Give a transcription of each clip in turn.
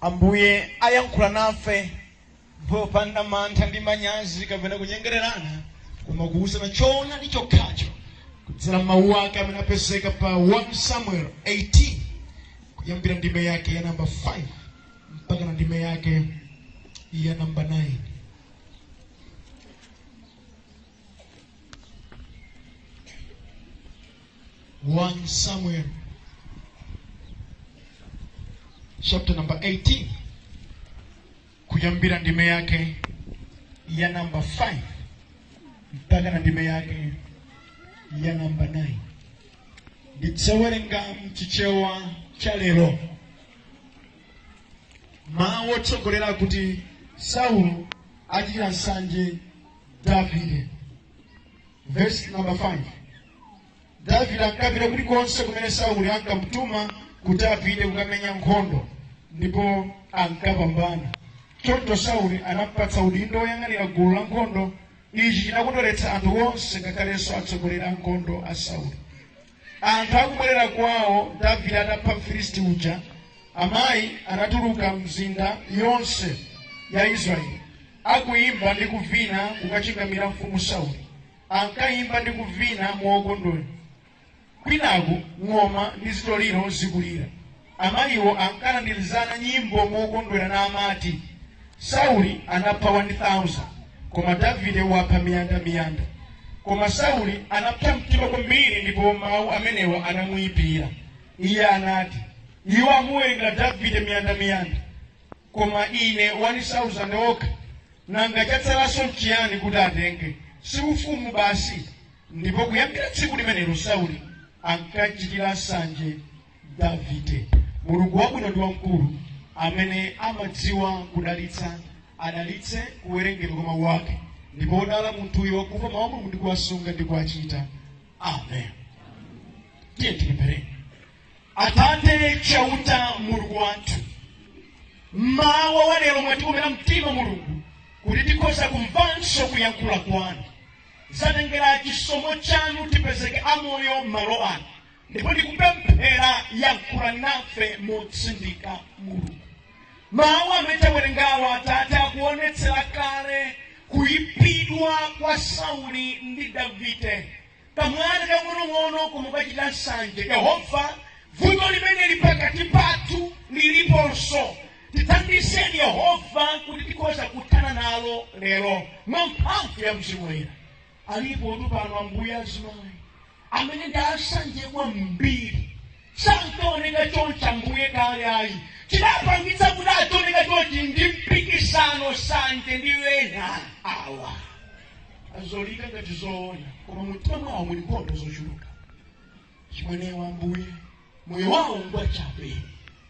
Ambuye ayankhula nafe popanda mantha ndi manyazi kapena kunyengererana, koma kuwuzana choonadi chokhacho kudzera m'mawu ake amene apezeka pa 1 Samuel 18 kuyambira ndime yake ya namba 5 mpaka na ndime yake ya namba 9. 1 Samuel chapter number 18 kuyambira ndime yake ya namba 5 mpaka na ndime yake ya namba 9 ndidzawerenga mchichewa cha lero mawu otsogolera kuti saulo achitira nsanje davide verse number 5 davide ankapita kulikonse kumene sauli ankamutuma kuti apite kukamenya nkhondo ndipo ankapambana choncho sauli anampatsa udindo woyang'anira gulu la nkhondo ichi chinakondweretsa anthu onse ngakhalenso atsogoleri a nkhondo a sauli Anthu akubwerera kwawo Davide atapha Mfilisti uja, amayi anatuluka m'mizinda yonse ya Israeli akuyimba ndi kuvina kukachingamira mfumu Sauli. Ankayimba ndi kuvina mokondwera, kwinaku ng'oma ndi zitoliro zikulira. Amayiwo ankalandirizana nyimbo mokondwera namati, Sauli anapha wani sauzande, koma Davide wapha miyanda miyanda. Koma Sauli anapsa mtima kwambiri ndipo mawu amenewa anamuipira. Iye anati, Iwo amuwerengera Davide miyanda miyanda, koma ine wani sauzande okha. Nanga chatsalanso n'chiyani kuti atenge? Si ufumu basi? Ndipo kuyambira tsiku limenelo Sauli ankam'chitira nsanje Davide. Mulungu wabwino ndi wamkulu amene amadziwa kudalitsa, adalitse kuwerengedwa kwa mawu ake, ndipo odala munthuyo wakumva mawu a Mulungu ndi kuwasunga ndi kuwachita. Amen. Tiyeni tipemphere. Atate Chauta, Mulungu wathu, mmawa wa lero mwatikomera mtima Mulungu kuti tikhoza kumvanso kuyankhula kwanu. Zatengera chisomo chanu tipezeke amoyo m'malo ano, ndipo ndikupemphera yankhula nafe motsindika mulungu mawu amene tawerengawa atate akuonetsera kale kuipidwa kwa sauli ndi davide kamwana kang'onong'ono koma pachitika nsanje yehova vuto limeneli pakati pathu liliponso tithandizeni yehova kuti tikhoza kuthana nalo lero mwa mphamvu ya mzimu woyera Alipotu pano ambuye azimayi amene ndi asanje kwambiri sankaoneka choncho ambuye kale ayi chidapangitsa kuti adzioneka chonchi ndi mpikisano sanje ndi ena awa aoneka ngati zoona koma mumtima mwawo muli nkhondo zochuluka chimenecho ambuye moyo wawo ngwa chabe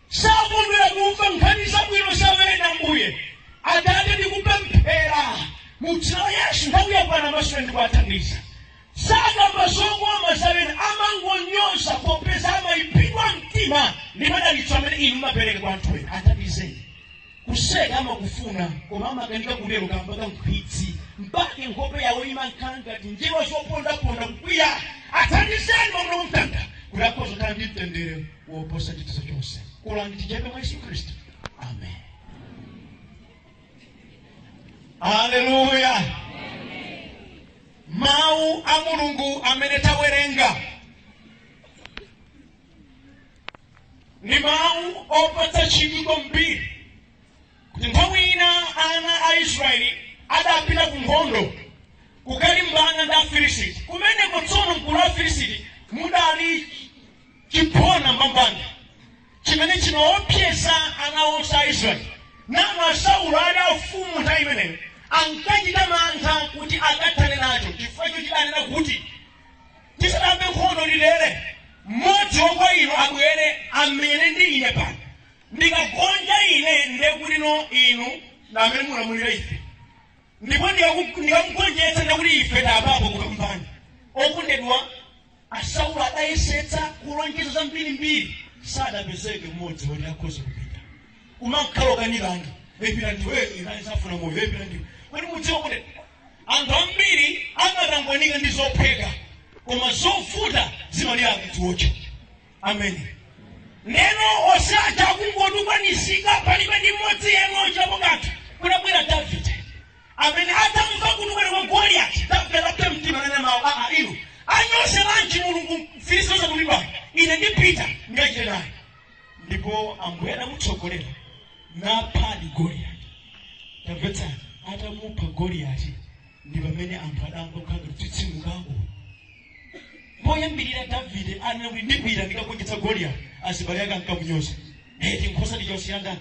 sakondwera kumva nkhani zabwino za ena ambuye atate ndikupemphera mu dzina la yesu nthawi yakwana masula ndikuwathandiza sakamba zokoma za ena amangonyoza popeza amaipidwa mtima ndi madalitso amene inu mapereka kwa anthu ena athandizeni kuseka amakufuna koma amakanika kutero kamba ka nkhwidzi mpake nkhope yawo imankhala ngati njerwa zopondaponda kukwiya athandizeni mawa lino kuti akhoza kukhala ndi mtendere woposa chidziwitso chonse kulani tichepe mwa yesu khristu amen haleluya mawu a mulungu amene tawerenga ndi mawu opatsa chidwi kwambiri kuti nthawi ina ana a israeli adapita ku nkhondo kukalimbana ndi afilisiti kumeneko tsono mgulu la afilisiti mudali chiphona mbambande chimene chinkaopseza ana onse a israeli nawo a saulo ali afumu nthawi imeneyo ankachita mantha kuti akathane nacho chifukwa choti chidanena kuti tisayambe nkhondo ndi ife mmodzi wa kwa inu abwere amenyane ndi ine pano ndikagonja ine ndekuti inu ndi amene mulamulira ife ndipo ndikaku- ndikamugonjetsa ndekuti ife ndi opambana okondedwa asaulo adayesetsa kulonjeza zambirimbiri sadapezeke mmodzi woti akhoza kupita kumakhala kukanizana eh pita ndiwe ine sindifuna moyo eh pita ndiwe kodi mudziwa kuti anthu ambiri amatangwanika ndi zophweka koma zovuta zimalira akudziwotcha amene ndi eno osati kungotukwanizika palibe ndi mmodzi yemwe ochitapo kanthu kunabwera davide amene atamva kutukwana kwa goliyati davide atapsa mtima nanena mawu aa iwo anyozeranji mulungu mfilisiti osadulidwa ine ndipita ndikachite naye ndipo ambuye adamutsogolera naphadi goliyati tamvetsani atamupha goliyati ndi pamene anthu adayamba kukhala ngati kutsitsimukako poyambirira davide anena kuti ndipita ndikagonjetse goliyati azibale ake ankamunyoza eti nkhosa wasiyira ndani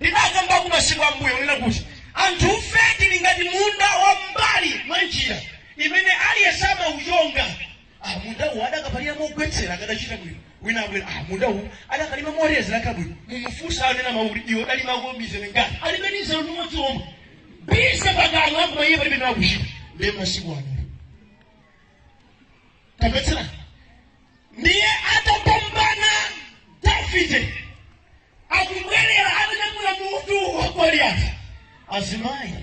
Ndinakambako masiku a m'mbuyo kunena kuti anthufe tili ngati munda wa m'mbali mwa njira imene aliyense amauchonga. Ah, munda uwu adakapalira mogwetsera akadachita bwino. Wina abwera, ah, munda uwu adakalima molezera akadachita bwino. Mumfunse anenamawo kuti iwe udalimako mizere ingati. Alibe ndi mzere umodzi omwe. Bise pakamwa apo paiye palibe nawo kuchita. Ndiye masiku ano. Tamvetsera. Ndiye atapambana Davide. Akubwerera atanyamula mutu wa Goliati, azimayi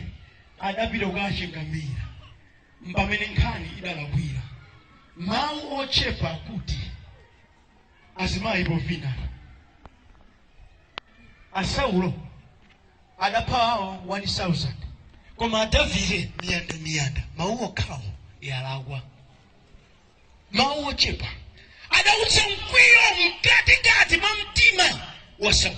adapita kukachingamira. Mpamene nkhani idalakwikira mawu ochepa akuti azimayi povinana. A Saulo adapha awo 1,000 koma a Davide miyandamiyanda. Mawu okhawo yalakwa. mawu ochepa adautsa mkwiyo mkatikati mwa mtima wa saulo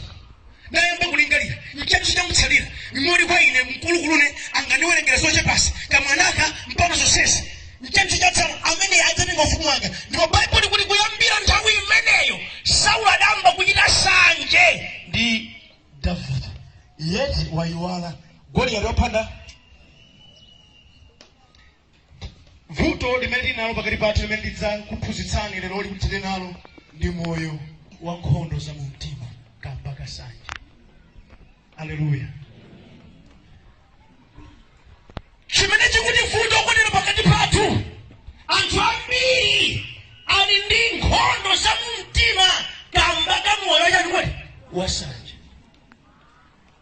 nayamba kulingalira nchiyaninso chamutsalira mimoli kwa ine mkulukulune angandiwerengere zochepazi kamwanaka mpaka zonsezi nchiyaninso chatsala amene adzatenga ufumu wanga ndipo baibulo likuti kuyambira nthawi imeneyo saulo adayamba kuchita sanje ndi davide yeti wayiwala goliyati wapha nda Vuto limene tili nalo pakati pathu limene ndidzakuphunzitsani leroli kuti tili nalo ndi moyo wa nkhondo za mu mtima kamba ka sanje. Aleluya. Chimene chikutivuta ife lero pakati pathu, anthu ambiri ali ndi nkhondo za mu mtima kamba ka moyo wa chani kodi wasanje.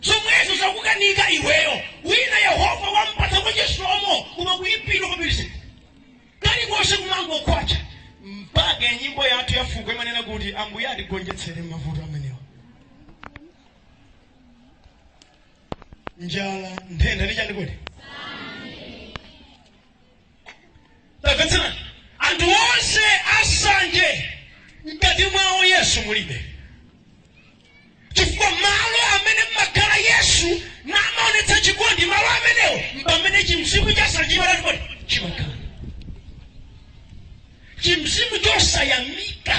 zomwezo zakukanika iweyo wina yehova wampatsa kwa chisomo koma kuipidwa kwapirizi kalikonse kumangokwacha mpaka nyimbo yathu ya fuko imanena kuti ambuye atigonjetsere mavuto amenewa njala ntenda ndi chani kodi tamvetsera anthu onse asanje mkati mwawo yesu mulibe chifukwa malo amene mumakhala yesu namaonetsa chikondi malo amenewo mpamene chimzimu chasanjimalatipoti chimakhala chimzimu chosayamika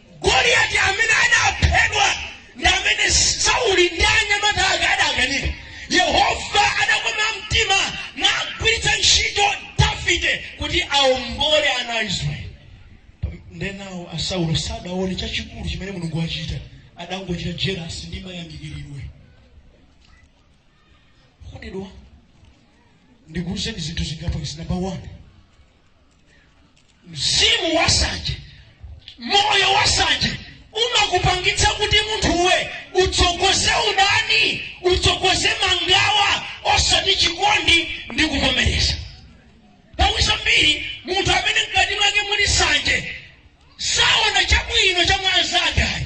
Goliati amene anaphedwa ndi amene Sauli ndi anyamata ake adakanika. Yehova adakoma mtima nagwiritsa ntchito Davide kuti awombole ana a Israeli. Nde nawo a Saulo sadaone chachikulu chimene Mulungu wachita, adangochita jelasi ndi mayamikiridwe. Kondedwa, ndikuwuzeni zinthu zingapo izi. Namba 1 mzimu wansanje moyo wansanje umakupangitsa kuti munthuwe utsogoze udani utsogoze mangawa osati chikondi ndi kuvomereza nthawi zambiri munthu amene mkati mwake muli nsanje saona chabwino cha mwa mnzake ayi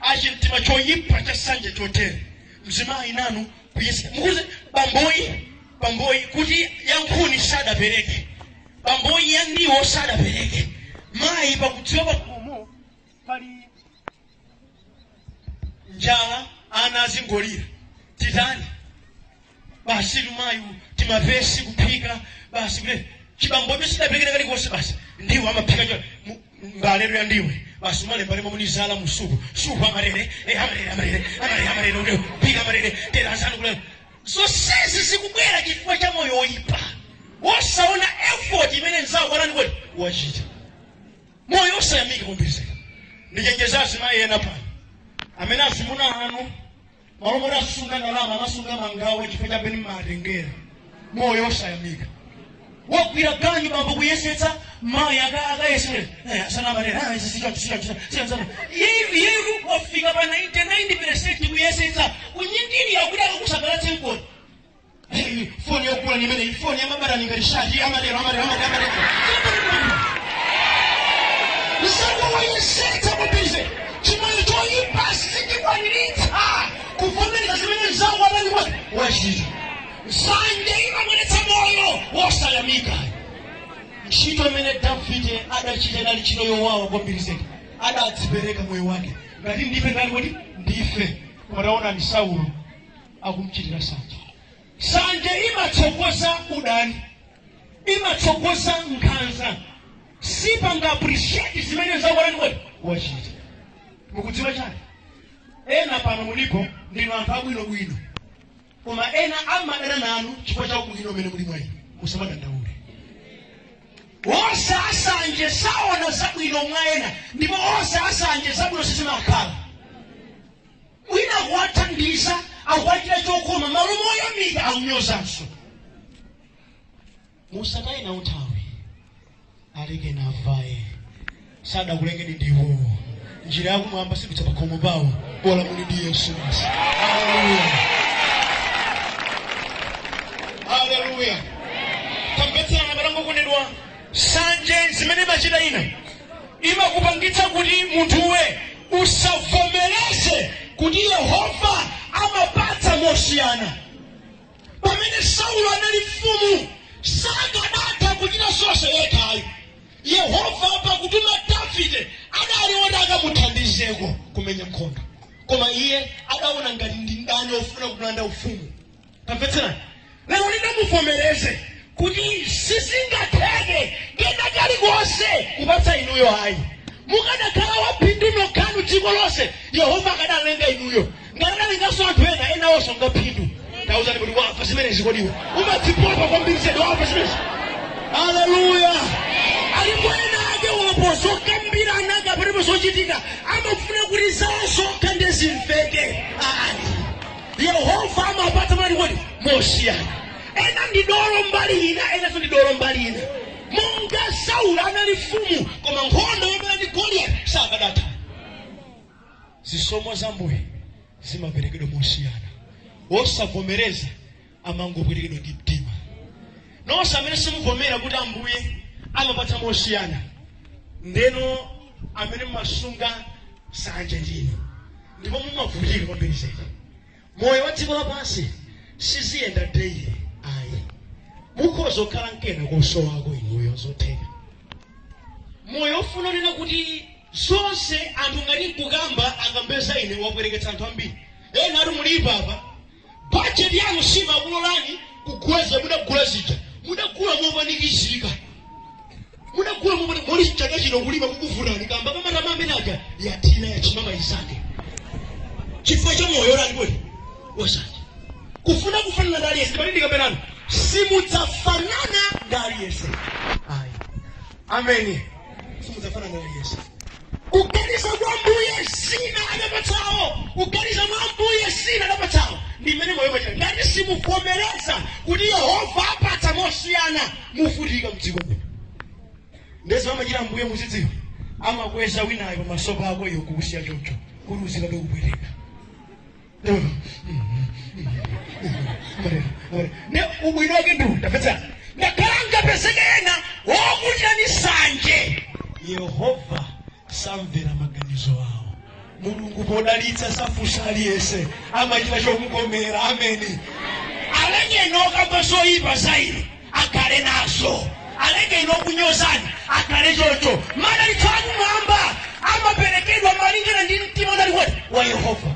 achimtima choyipa cha nsanje chotere mzimayi inu kuyesa mukuze bambowo bambowo kuti yankhuni sadapereke bambowo yandiwo sadapereke mayi pakudziwa pakhomo pali njala ana azingolira titani basi lumayu timayesa kuphika basi kule chibambo icho sichidapereke kalikonse basi ndiwo amaphika cho mu- mbale ya ndiwo basi umalemba lemba munizala musuku suku amalere eh, amalere amalere amalere amalere ude phika amalere tera asanu kule zonsezi zikubwera chifukwa cha moyo woyipa wosaona effort imene mnzawo akuwachitira moyo osayamika kumbizeka ndichenjeza azimayi ena pano amene azimuna anu malo moti asunga ndalama amasunga mangawa chifukwa cha chani mmatengera moyo osayamika wagwira ganyu bambo kuyesetsa mayi aka- akayesere Eh, asana amanena "Ah, izi sicho- sicho- sicho- sicho- sicho." Yeyu- yeyu wafika pa 99 kuyesetsa kunyingirira kuti akakusangalatse mkoni Hey, foni yokula nimene ifoni yamabara ningaishaji amadero amadero amadero amadero mnzanga wayesetsa kubize chimene choyipa sichikwaniritsa kuvomereza zimene mzangu amene wa- wachita nsanje imabweretsa moyo wosayamika ntchito imene Davide adachita inali ntchito yowawa kwambiri zedi adadzipereka moyo wake ngati ndife ndani kuti ndife koma taonani Saulo akumchitira nsanje nsanje imatsogoza udani imatsogoza nkhanza sipanga appreciate zimene mnzako wachita mukudziwa chani ena pano mulipo ndinu anthu abwinobwino koma ena amadana nanu chifukwa cha ubwino umene uli mwa inu musamadandaule onse ansanje saona zabwino mwa ena ndipo onse ansanje zabwino sizimakhala wina ukuwathandiza ukuwachitira chokoma malo moyamika akunyozanso musataye nawo nthawi alekeni avaye sadakulengeni ndiwowo njira yakumwamba sipita pakhomo pawo bola muli ndi Yesu basi haleluya haleluya tamvetserani abale okondedwa Nsanje zimene imachita ina, imakupangitsa kuti munthuwe usavomereze kuti Yehova amapatsa mosiyana. Pamene Sauli anali mfumu, sakadatha kuchita zonse yekha ayi. Yehova pakutuma Davide adali woti akamuthandizeko kumenya nkhondo, koma iye adaona ngati ndi mdani ofuna kumulanda ufumu. tamvetserani lero ndi muvomereze kuti sizingatheke kena kalikonse kupatsa inuyo ayi mukadakhala aphindu nokhanu dziko lonse yehova akadalenga inuyo ngati adalenganso anthu ena enawonso ngaphindu tauzani kuti wamva zimenezi kodiwe umadzipopa kwambiri zedi wamva zimenezi haleluya alipo ena ake pa zokambirana kapena zochitika amafuna kuti zawo zokha nde zimveke ayi yehova amapatsa motani kodi mosiyana ena ndi dolo mbali ina enanso ndi dolo mbali ina monga sauli anali mfumu koma nkhondo yomenya ndi goliyati sakadatha zisomo za mbuye zimaperekedwa mosiyana osavomereza amangopwetekedwa ndi mtima nonse amene simuvomera kuti ambuye amapatsa mosiyana nde inu amene mumasunga nsanje ndinu ndipo mumavutika kwambiri zedi moyo wa dziko lapansi siziyenda daily ayi mukhoza kukhala nkena kosowako inuyo zotheka moyo ofuna kunena kuti zonse anthu ngati nkukamba akambe za ine wapweteketsa anthu ambiri ena ake mulipo apa Bajeti yanu simakulolani kugula zija mudagula zija mudagula mopanikizika mudagula mopani moti chaka chino kulima kukuvutani kamba ka matama amene aja athina achimama isake chifukwa cha moyo wanji kodi wasanje kufuna kufanana ndi aliyense pamene ndikanena ine simudzafanana ndi aliyense ayi ameni simudzafanana ndi aliyense kuganiza kwa mbuye zina adapatsawo kuganiza kwa mbuye zina adapatsawo ndi mmene moyo umachitira ngati simuvomereza kuti yehova apatsa mosiyana muvutika mdziko muno nde zimene amachita mbuye muzidziwa amakweza winayo pamaso pako iwe kukusiya choncho kuti uzikatokupereka nde ubwino wake ndi woti ngakhale angapezeke ena wokuchita nsanje yehova samvera maganizo awo mulungu podalitsa safunsa aliyense amachita chomukomera ameni alenye nokamba zoyipa zaili akhale nazo aleke ino kunyozani akhale choncho madalitso akumwamba amaperekedwa malingana ndi mtima unali wa yehova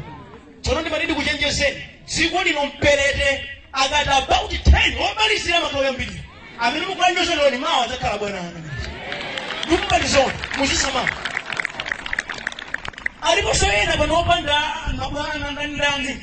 tsono ndimati ndikuchenjezeni dziko lino mperete akati about 10 omalizira matoyo yambiri amene mukuwanyozawo mawa adzakhala bwana anu ndikuuzeni muzisamala aliponso ena pano opanda mabwana ndandani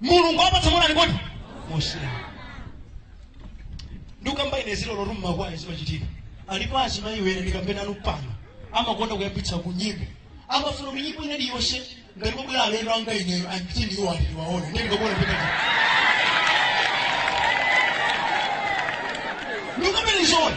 mulungu apatsa mwana alikodi osiyana ndikamba ine zoona zoti mmakwaya zimachitika alipo azimayi ena ndikambena anu pano amakonda kuyambitsa ku nyimbo amafuna kuti nyimbo ina iliyonse ngati mabwera alendo anga ineyo anditi ndiwo ali ndiwaona ndiye ndikakuona ndikati ndikambeni zoona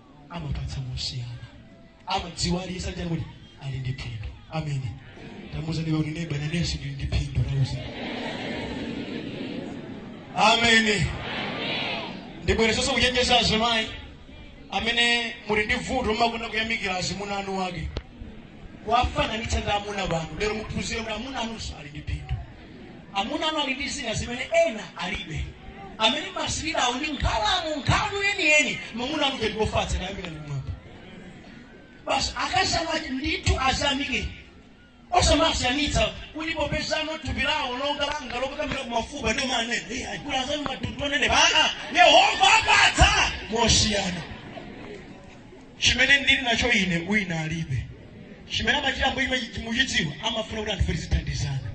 amapatsa mosiyana amadziwa aliyense nenani kuti ali ndi phindu amene tamuuza neba kuti neba nanenso ndili ndi phindu lauza amene ndibwerezenso kuchenjeza azimayi amene muli ndi vuto mmakonda kuyamikira azimuna a eni ake kuwafananitsa ndi amuna anu lero muphunzire kuti amuna anunso ali ndi phindu amuna anu ali ndi zina zimene ena alibe amene mumasirirawo ndi nkhalamu nkhanza yeniyeni mamuna anuwo ndiofatsa kayambira ndikumwamba basi akazi anu ati ndithu azamike osamasiyanitsa kuti popezano thupi lawo longa langa lokakambira kumafupa ndio mane kula zanu matundu onene baa yehova amapatsa mosiyana Chimene ndiri nacho ine wina alibe. Chimene amachita Ambuye chimenechi muchidziwe, amafuna kuti anthufe tizithandizana.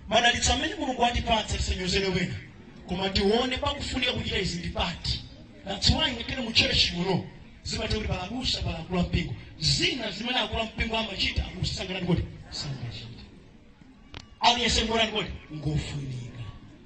Madalitso amene Mulungu watipatsa tisanyozere ena, koma tione pakufunika kuchita izi ndi pati. That's why ngakhale mu church muno zimatha kuti pali abusa pali akulu ampingo zina zimene akulu ampingo amachita abusa sangatani kuti sangachita aliyense ngotani kodi ngofunika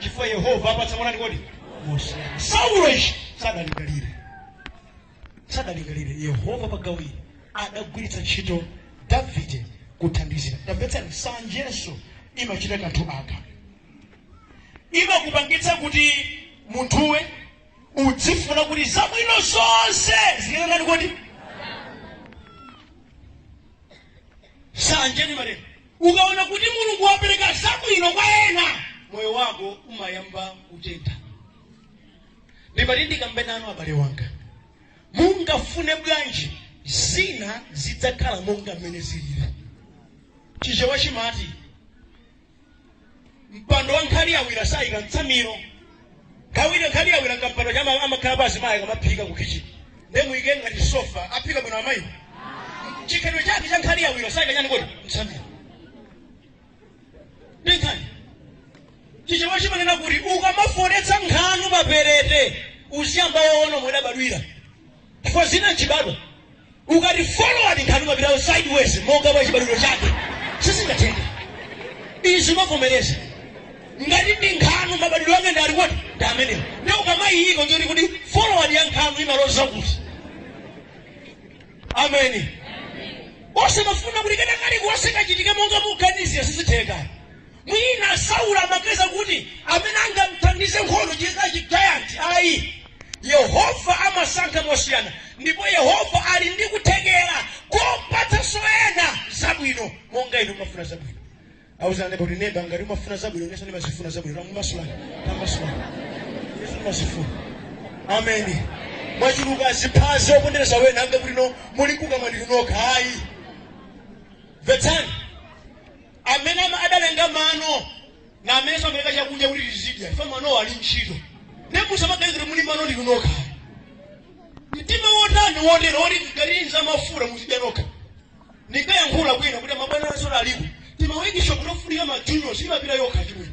chifukwa yehova amapatsa motani kodi mosiyana saulo ichi sadalingalire sadalingalire yehova pagawo ili adagwiritsa ntchito davide kuthandizira tamvetsani nsanjenso imachita kanthu aka imakupangitsa kuti munthuwe udzifuna kuti zabwino zonse zitani kodi nsanje imatero Ukaona kuti Mulungu wapereka zabwino kwa ena, moyo wako umayamba kutentha. Ndimati ndikambe nanu abale anga, mungafune bwanji zina zidzakhala monga mmene zilili. Chichewa chimati mpando wa nkhali yawira sayika mtsamiro kawiri nkhali yawira kampando chama amakhalapo azimayi akamaphika ku kitchen nde muyike ngati sofa aphika bwino amayi chikhalidwe chake cha nkhali yawira sayika chani kodi mtsamiro ndi nkhani chichewa chimanena kuti ukamafoletsa nkhanu pa perete uziyamba waona momwe idabadwira chifukwa zina nchibadwa Ukati forward nkhanu imapita sideways monga mwa chibadwidwe chake sizingatheke izi umavomereza ngati ndi nkhanu mabadwidwe ake ndi ati kodi ndi amenewo ndi ukamayiyiko njoti kuti forward ya nkhanu imaloza kuti ameni osamafuna kuti kena kalikonse kachitike monga mukuganizira sizitheka Mwina Sauli amaganiza kuti amene angam'thandize nkhondo cizikhala ci giant. Ayi, Yehova amasankha mosiyana. Ndipo Yehova ali ndi kuthekela kopatsanso ena zabwino monga inu mumafuna zabwino. Auzani neba kuti, Neba, ngati umafuna zabwino, inenso ndimazifuna zabwino. Tangomasulani, tambasulani. Inenso ndimazifuna. Ameni. Mwaculuka ziphazi zopondeleza ena ambe kuti inu muli kukamwa ndinu nokha. Ayi. Mvetsani. Amene ama- adalenga mano ndi amenenso amalenga chakudya kuti tizidya ife manowo ali ntchito nde musamaganize kuti muli mano ndinu nokha mtima wotani wotero woti galinza mafuta muzidya nokha ndikayankhula kwina kuti mabwana asora alipo timawekisha kutofunika majuniors imapita yokha chimwene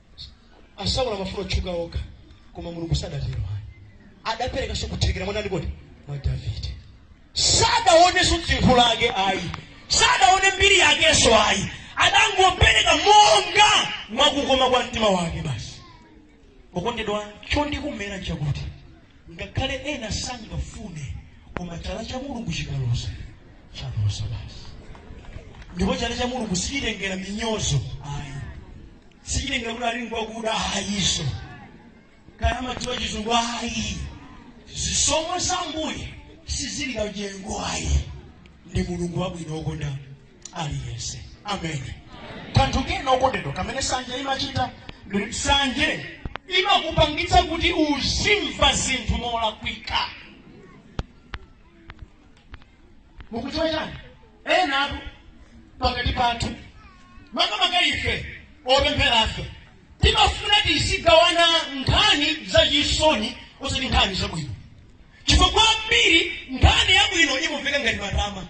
a sauli amafuna otchuka okha koma mulungu sadatero ayi adaperekanso kuthekera mwa ndani kodi mwa davide sadaonenso dzitho lake ayi sadaone mbiri yakenso ayi adangopereka monga mwakukoma kwa mtima wake basi okondedwa chondikomera nchakuti ngakhale ena sangafune koma chala cha mulungu chikaloza chaloza basi ndipo chala cha mulungu sichitengera minyozo ayi sichilinga kuti ali ngwakuda ayi so kaya amadziwa chizungu ayi zisomo za ambuye sizilinga nyengo ayi ndi mulungu wabwino wokonda aliyense ameni kanthu kena okondedwa kamene sanje imachita ndi sanje imakupangitsa kuti uzimva zinthu molakwika mukudziwa chani enatu pakati pathu makamaka ife opempherafe timafuna tizigawana nkhani zachisoni osati nkhani zabwino chifukwa kwa ambiri nkhani yabwino imamveka ngati matama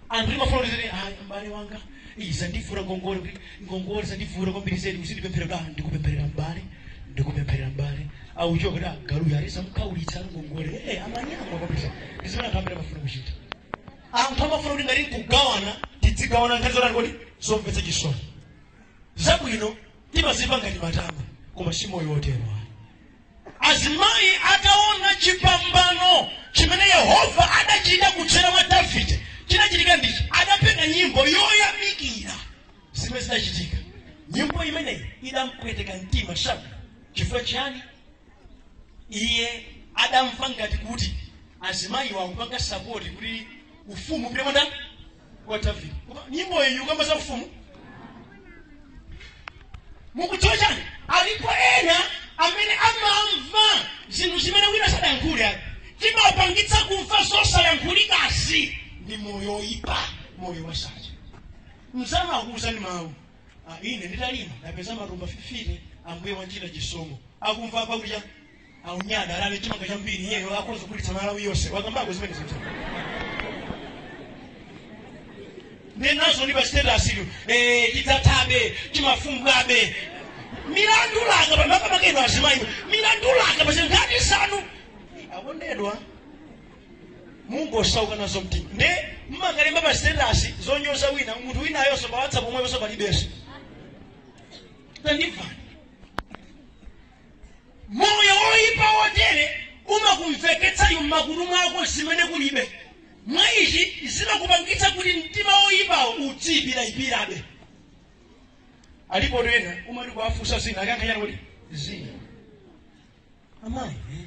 anthu timafuna kuti ayi mbale wanga iza ndifuna ngongole kuti ngongole zandivuta kwambiri zedi uzindipempherera kuti ah, ndikupempherera m'bale ndikupempherera m'bale auchoka kuti ah, galuyo ali samukhaulitsa ngongole ee eh, amanyama kwambiri ndi zimene anthu ambiri amafuna kuchita anthu amafuna kuti ngati nkugawana tidzigawana nkhani zotani kodi zomvetsa chisoni zabwino timaziona ngati matama koma si moyo wotero Azimayi ataona chipambano chimene Yehova adachita kudzera mwa Davide, chinachitika ndichi, adapeka nyimbo yoyamikira zimene zidachitika. Nyimbo imeneyi idampweteka mtima Sauli. Chifukwa chiyani? Iye adamva ngati kuti azimayiwo akupanga sapoti kuti ufumu upite kwa ndani? Kwa Davide. Koma nyimbo iyi sikukamba za ufumu. Mukudziwa chani? Alipo ena amene amamva zinthu zimene wina sadayankhule ayi. Chimawapangitsa kumva zosayankhulidwazi ndi moyo woyipa, moyo wansanje. Mnzanu akuwuzani mawu. Ah, ine ndinalima ndapeza matumba 50 ambuye wandichitira chisomo. Akumva apa kucha aunyada alale chimanga chambiri iyeyo akhoza kugulitsa malawi yonse wakambako zimene zinthu nenazo ndi pa status yo chidzathabe chifumbwabe milandu langa pamaka makeno azimayi milandu langa pachino ngati sanu akondedwa mungosauka nazo mtima nde mumangolemba pa status zonyoza wina munthu winayonso pa whatsapp omweponso palibenso tandimvani Moyo woipa wotere umakumveketsa m'makutu mwako zimene kulibe. Mwa ichi zimakupangitsa kuti mtima woipawo udziipiraipirabe. Alipo ena umati kuwafunsa zina akuyankha chani kuti zina amayi eh?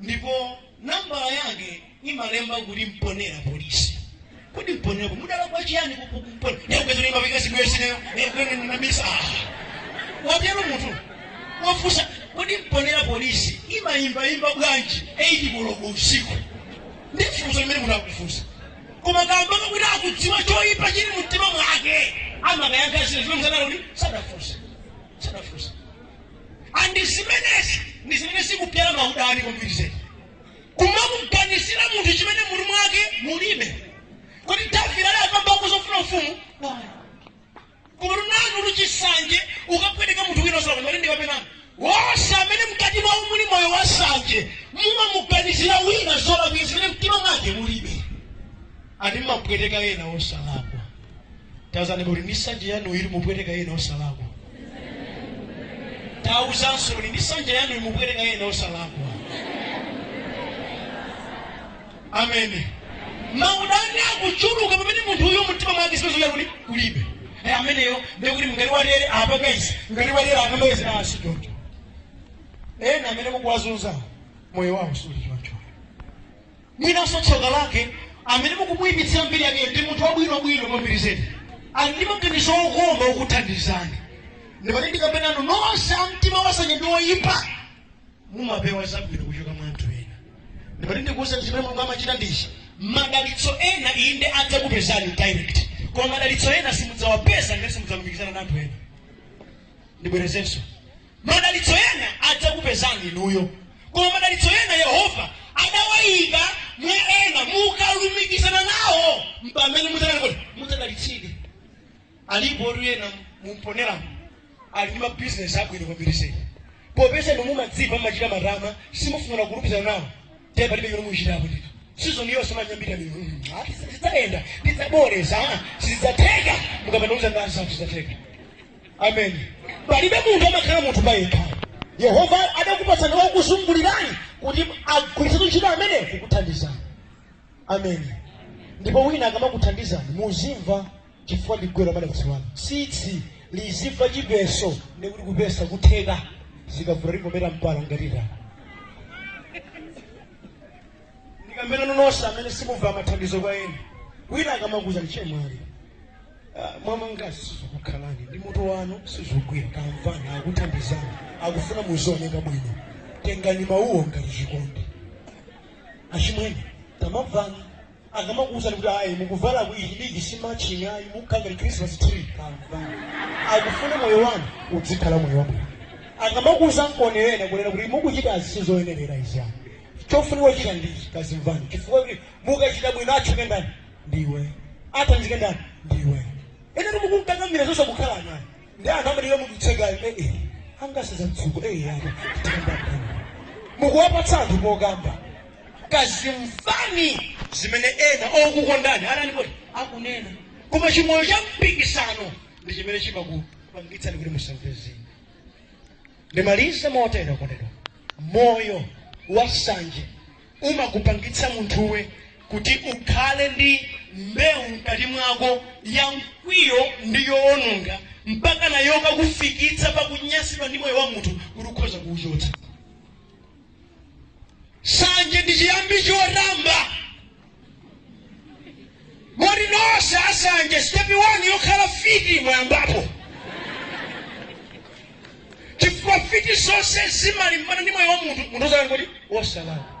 ndipo nambala yake inalemba kuti mponera polisi kodi Mponela mdala kwa chiyani kukumpona ndikupezera imapika sibwesineyo ndikupezera ndinamisa watero munthu wafusa kodi Mponela Police imayimbayimba bwanji 8 koloko usiku ndifunso limene munthu akufunsa koma kamba kakuti akudziwa choyipa chili mumtima mwake akumayankha zinthu zimene msanaloni sadafunse sadafunse and zimenezi ndi zimene zikubyala maudani kwambiri kumamuganizira munthu chimene mumtima mwake mulibe kuti davide ali akamba zofuna ufumu koma nanu ndi chisanje ukapweteka munthu wina osalakwa koma ndi kapena wonse amene mkati mwawo muli moyo wa sanje mumamuganizira wina zolakwika zimene mumtima mwake mulibe ati mumapweteka ena osalakwa dziwani kuti ndi sanje yanu ikupweteka ena osalakwa tauzani nsanje yanu imubwereka yena osalakwa amene maudani akuchuluka pamene munthu uyo mtima mwake sipezoya kuti kulibe Eh, ameneyo ndekuti mngati walere apa kaisi mngati walera akamawezi asi choncho ena amene kukuwazunza moyo wawo suli choncho Mwinanso tsoka lake, amene mukumuipitsira mbiri yakeyo ndi munthu wabwinobwino kwambiri zedi, ali ndi maganizo okoma okuthandizani. Ndipo ndikamba nanu nonse a mtima wansanje ndi woipa, mumapewa zabwino kuchoka mwa anthu ena. Ndipo ndikuwuzani zimene Mulungu amachita ndi ichi, madalitso ena inde adzakupezani direct, koma madalitso ena simudzawapeza ngati simudzalumikizana ndi anthu ena. ndibwerezenso madalitso ena adzakupezani inuyo koma madalitso ena yehova adawayika mwa ena mukalumikizana nawo mpamene mudzadalitsike alipotu ena mumponeramo ali ndi mabizinesi abwino kwambiri popeza inu mumadzimva mumachita matama simufuna kulumikizana nawo ndiye palibe chimene muchitapo ndito sizoni yonse manyambita zidzayenda ndidzabwereza sizidzatheka mukamanauza ndani safu zidzatheka amen palibe munthu amakhala munthu payekha yehova adakupatsani okuzungulirani kuti agwiritse ntchito amenewo kukuthandizani amen ndipo wina akamakuthandizani muzimva chifukwa m'chingelezi amanena kuti wa tsitsi azimva chipeso ndi kuti kupesa kutheke zikavula likomera mpala ngatita ndikamba nanu nonse amene simumva mathandizo kwa ena wina akamakuuzani achemwali ah, mwamangazi sizikukhalani ndi mutu wanu sizikugwira kamamvani akuthandizani akufuna muzioneka bwino tengani mawuwo ngati chikondi achimwene tamamvani akamakuuzani kuti ayi mukuvalaku ichi ndi ichi si matching ayi mukukhala ngati christmas tree kamamvani akufuna moyo wanu uzikhala moyo wabwino akamakuuzani ena kunena kuti mukuchita izi sizoyenerera izi ayi Chofunika kuchita ndi ichi, kazimvani chifukwa kuti mukachita bwino atchuke ndani? Ndi iweyo. Asangalale ndani? Ndi iweyo. Enanu mukunkakamira zosakukhalani ndi anthu amadera mukutsekayo eh eh angasiza mtsuko eh eh apa tikamba ndani? Mukuwapatsa anthu pokamba kazimvani zimene ena okukondani akunena koma chimoyo cha mpikisano ndi chimene chimakupangitsani kuti musamve zina ndimalize motere okondedwa moyo wa nsanje umakupangitsa munthuwe kuti ukhale ndi mbewu mkati mwako ya mkwiyo ndi yoononga mpaka iyo ikakufikitsa pakunyansidwa ndi moyo wa munthu kuti ukhoza kuuchotsa nsanje ndi chiyambi chotamba moti nonse ansanje sitepi wani yokhala mfiti mwayambapo chifukwa mfiti zonse zimalimbana ndi moyo wa munthu munthu uzakati kuti wosalakwa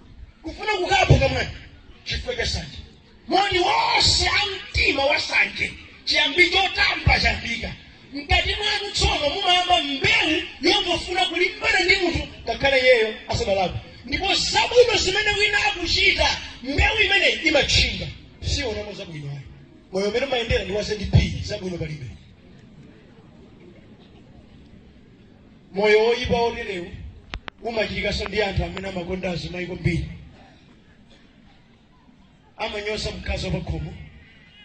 kufuna kukapo kamwe chifukwa cha nsanje moti nonse a mtima wa nsanje chiyambi chotamba chayambika mkati mwanu tsono mumayamba mbewu yongofuna kulimbana ndi munthu ngakhale iyeyo asadalakwe ndipo zabwino zimene wina akuchita mbewu imeneyi imatchinga sionamo zabwino ayi moyo umene umayendera ndi wa zp zabwino palibe Moyo woyipa woterewu umachitikanso ndi anthu amene amakonda azimayi kwambiri. Amanyoza mkazi wa pakhomo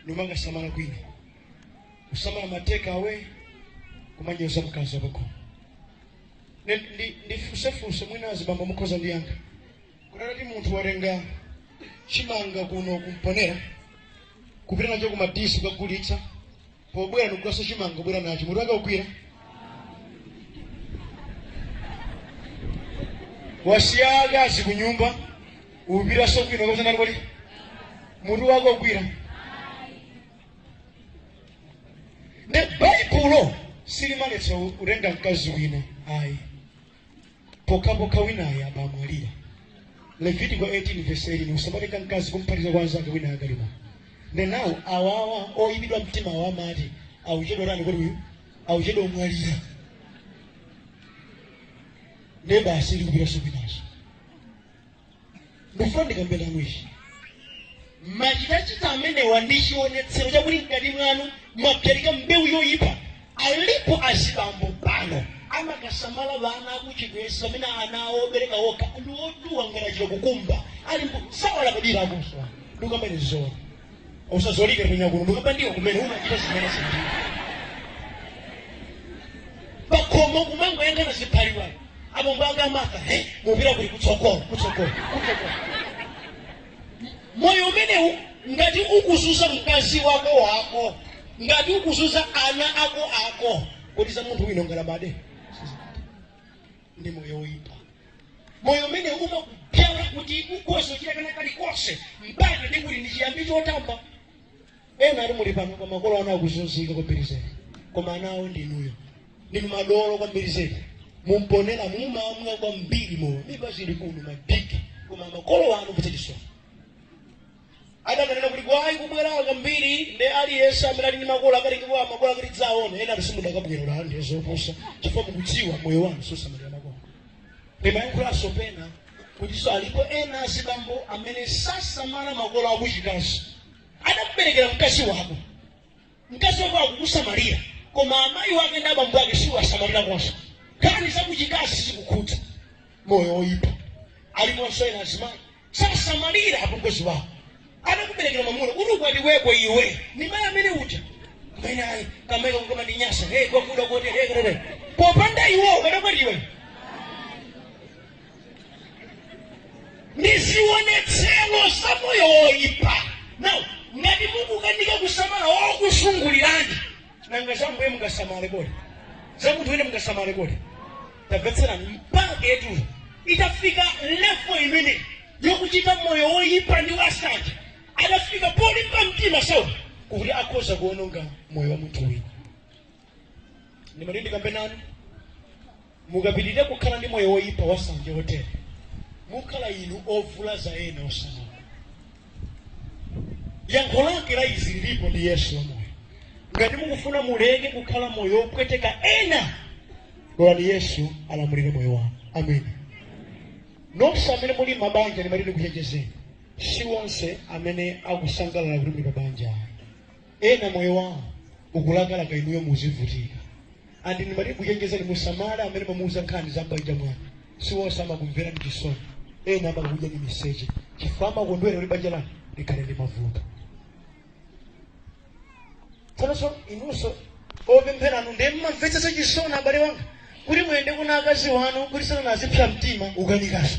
nimakasamala kwina. Kusamala ma take away kumanyoza mkazi wa pakhomo. Ndi- ndi- Ndifunsefunse mwina azibambo mukhoza ndiyankha. Kodi ngati munthu watenga chimanga kuno ku Mponela kupita nacho ku Madisi kukagulitsa pobwera ndikugulanso chimanga kubwera nacho mutu wake ugwira wasiya akazi ku nyumba upitanso kwina kakusanani kodi mutu wake ugwira ne baibulo silimaletsa kutenga mkazi wina ayi pokhapokha winayo atamwalira levitiko 18 vesi 18 usamatenga mkazi kumphatiza kwa anzake winayo akali moyo nde nawo awawa oyipidwa mtima awo amati auchedwa tani kuti uyu auchedwa kumwalira ne basi ali kupitanso kwinaso ndifuna ndikambe nanu ichi machitachita amenewa ndi chionetsero chakuti mkati mwanu mwabzalika mbewu yoyipa alipo azibambo pano amakasamala ana akuchigwesa pamene ana awo obereka okha ndi otuwa ngati achita kukumba ali osawalabadira akuswa ndikambani zoona usazolike kunya kuno ndikaba ndiwo kumene umachita zimene zinthu pakhomo kumangoyang'ana ziphaliwa apo mbanga maka he mpira kuli kutsogolo kutsogolo kutsogolo moyo umenewu ngati ukuzunza mkazi wako wako ngati ukuzunza ana ako ako kodi za munthu wina ungalabade ndi moyo woyipa moyo umene umakupyala kuti ukhoza kuchita kena kalikonse mpaka ndi kuti ndi chiyambi chotamba ena ali muli pano pa makolo anu akuzunzika kwambiri zedi koma ana awo ndi inuyo ndi madolo kwambiri zedi mu mponela mumamwa kwambiri mowa miba zili kuno madiki koma makolo anu kuchita chisoni ndakanena kuti kwaya kubwera kwambiri ndiye aliyense amene ali ndi makolo akatengepo makolo akadzaone ena simudakabwerera ndi zopusa chifukwa mukudziwa moyo wanu sosamalira makolo ndimayankhulanso pena kutinso alipo ena azibambo amene sasamala makolo akuchikazi adakuberekera mkazi wako mkazi wako akukusamalira koma amayi wake ndi abambo ake suwasamalira konse nkhani zakuchikazi zikukhudza moyo woyipa aliponso ena azimayi sasamalira apongozi wawo anakuberekera mwamuna kuti ukwatiweko iwe ni mayi amene uja kumene kamayi kamene kukamatinyansa hey kokuda kotere hey, hey, hey. popanda iwo ukadakwatiwa ndi zionetsero za moyo woipa nawo ngati mukukanika kusamala okuzungulirani nanga za Ambuye mungasamale kodi za munthu wina mungasamale kodi tamvetserani mpakatu itafika levo imene yokuchita moyo woipa ndi wasanje adafika polimba mtima sauli kuti akhoza kuononga moyo wa munthu wina ndimati ndikuchenjezeni mukapitirira kukhala ndi moyo woyipa wasanje wotere mukhala inu ovulaza ena osalakwa yankho lake la izi lilipo ndi yesu wamoyo ngati mukufuna muleke kukhala moyo wopweteka ena lolani yesu alamulire moyo wanu ameni nonse amene muli m'mabanja ndimati ndikuchenjezeni si wonse amene akusangalala kuti muli pabanja Ena moyo wawo ukulakalaka inuyo muzivutika and ndimati ndikuchenjezeni musamale amene mumamuuza nkhani za m'banja mwanu siwonse amakumverani chisoni ena amakudyani miseche chifukwa amakondwera kuti banja lanu likhale ndi mavuto tsono inunso opempheranu ndiye mumamvetsa chisoni abale anga kuti muyende kunja akazi wanu kuti sanena zopsa mtima kukanikanso